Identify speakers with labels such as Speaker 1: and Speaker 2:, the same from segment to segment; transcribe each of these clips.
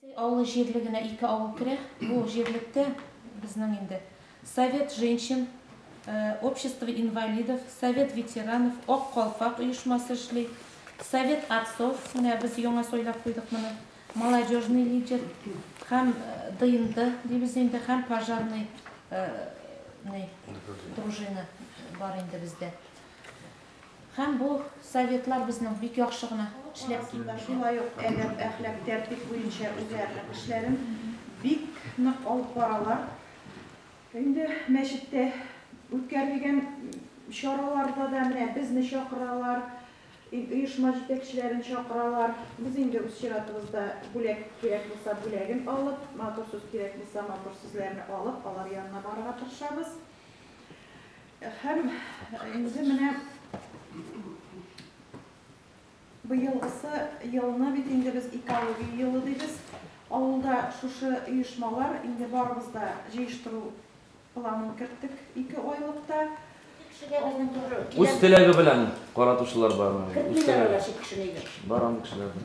Speaker 1: Әсәй авылы җирлегенә ике авыл керә. Бу җирлектә безнең инде Совет женщин, Общество инвалидов, Совет ветеранов, Ак калфак оешмасы эшли, Совет отцов, менә без яңа сайлап куйдык моны, Молодежный лидер һәм ДНД дибез инде һәм пожарный ный дружина бар инде бездә. Һәм бу советлар безнең бик яхшы гына эшләп килгән. Шулай ук әдәп,
Speaker 2: әхлак, тәртип буенча үзләренең эшләрен бик нык алып баралар. Инде мәчеттә үткәрелгән чараларда да менә безне чакыралар, оешма җитәкчеләрен чакыралар. Без инде үз чиратыбызда бүләк кирәк булса бүләген алып, матур сүз кирәк булса матур сүзләрне алып, алар янына барырга тырышабыз. Һәм инде менә быелгысы елны бит инде без экология елы дибез. Авылда шушы оешмалар инде барыбыз да җыештыру планын керттек ике айлыкта.
Speaker 3: Үз теләге белән каратучылар бармы? Кертмиләр әле чит кешене өйгә. Бар андый кешеләр дә.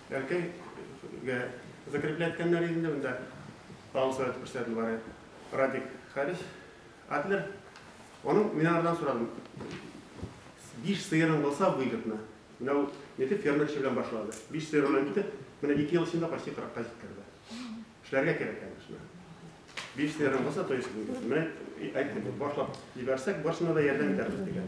Speaker 4: Бәлки гә закреплять кәннәр инде монда. Тагын сурәт күрсәтелде бары. Радик Харис. Адлер. Аның мин анардан сорадым. Биш сыерың булса бу егетне. Менә ул нитеп фермерчы белән башлады. Биш сыер белән китеп, менә ике ел эчендә почти 40-ка җиткерде. Эшләргә кирәк, конечно. Биш сыерың булса, то есть, менә әйтте, башлап җибәрсәк, барсына да ярдәм итәрбез дигән.